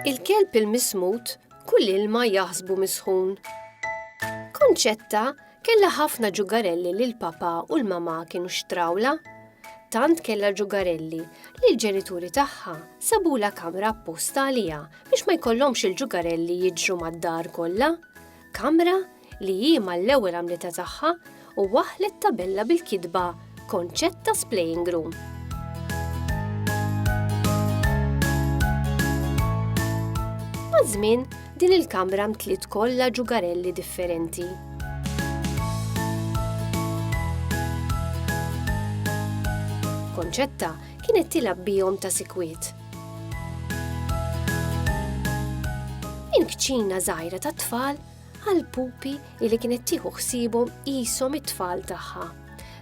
Il-kelb il-mismut kull ilma jaħsbu misħun. Konċetta Kellha ħafna ġugarelli li l-papà u l-mamà kienu xtrawlha. Tant kellha ġugarelli li l-ġenituri tagħha sabulha kamra apposta għaliha biex ma jkollhomx il-ġugarelli jiġru mad-dar kollha. Kamra li hi mal-ewwel għamlitha tagħha u waħħlet tabella bil-kitba Konċett ta' splaying room. Maż-żmien, din il-kamra mtliet kollha ġugarelli differenti. Konċetta kienet tilab bihom ta' sikwiet. Il-kċina żgħira tat-tfal għall-pupi li kienet tieħu ħsiebhom qishom it-tfal tagħha.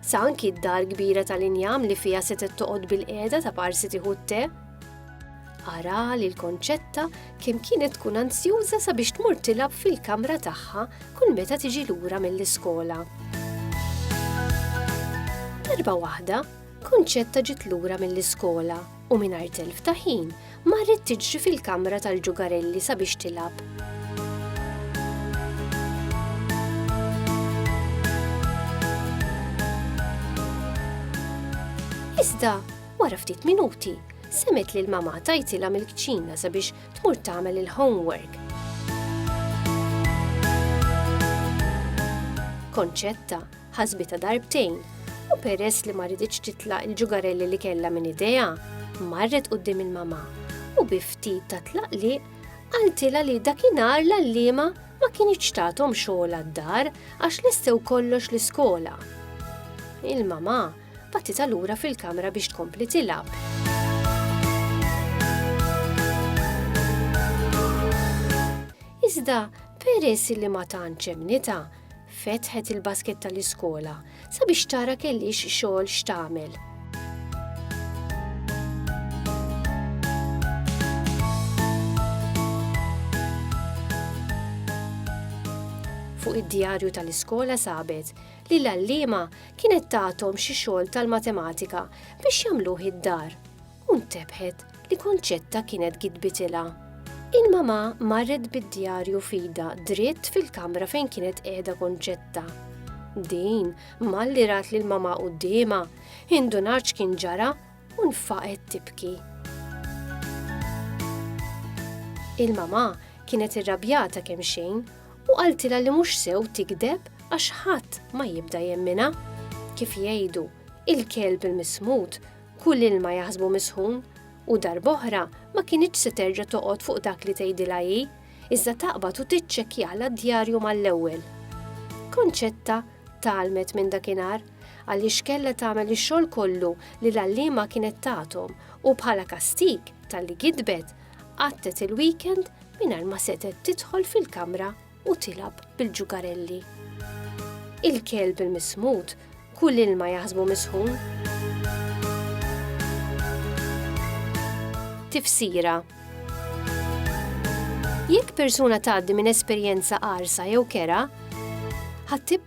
Sa anki d-dar kbira tal-injam li fiha setgħet toqgħod bil-qiegħda ta' parsi tieħu t-te. Ara li l-konċetta kemm kienet tkun ansjuża sabiex tmur tilab fil-kamra tagħha kull meta tiġi lura mill-iskola. Darba waħda, konċetta ġiet lura mill-iskola u mingħajr telf ta' ħin marret tiġri fil-kamra tal-ġugarelli sabiex tilgħab. Iżda, wara ftit minuti, semet li l-mama tajtila mill-kċina sabiex tmur tagħmel il-homework. Konċetta, ħasbitha darbtejn u peress li ma riditx titlaq il-ġugarelli li kellha minn idejha, marret quddiem il-mama u bi ftit ta' tlaqli qaltilha li dakinhar l-għalliema ma kienx tagħthom xogħol għad-dar għax lestew kollox l-iskola. Il-mama batitha lura fil-kamra biex tkompli tilab. Iżda peress li ma tantx emnita, Fetħet il-basket tal-iskola sabiex tara kellix xogħol x'tagħmel. Fuq id-djarju tal-iskola sabet li l-għalliema kienet tagħthom xi xogħol tal-matematika biex jagħmluh id-dar. u ntebħet li Kunċetta kienet gidbitilha. Il-mamà marret bid-djarju f'idha dritt fil-kamra fejn kienet qiegħda Kunċetta. Din malli rat lil mamà quddiemha, indunat x'kien ġara u nfaqet tibki. Il-mamà kienet irrabjata kemm xejn u qaltilha li mhux sew tigdeb għax ħadd ma jibda jemmina. Kif jgħidu, il-kelb il-mismud Kull ilma jaħsbu misħun, u darb'oħra ma kinitx se terġa' toqgħod fuq dak li tgħidilha hi, iżda taqbad u tiċċekkjalha d-djarju mal-ewwel. Concetta tgħallmet minn dakinhar għaliex kellha tagħmel ix-xogħol kollu li l-għalliema kienet tagħthom u bħala kastig talli gidbet, għattet il-weekend mingħajr ma setgħet tidħol fil-kamra u tilab bil-ġugarelli. Il-kelb il-mismut kull ilma jaħsbu misħun. Tifsira Jekk persuna tgħaddi minn esperjenza qarsa jew kera, ħadd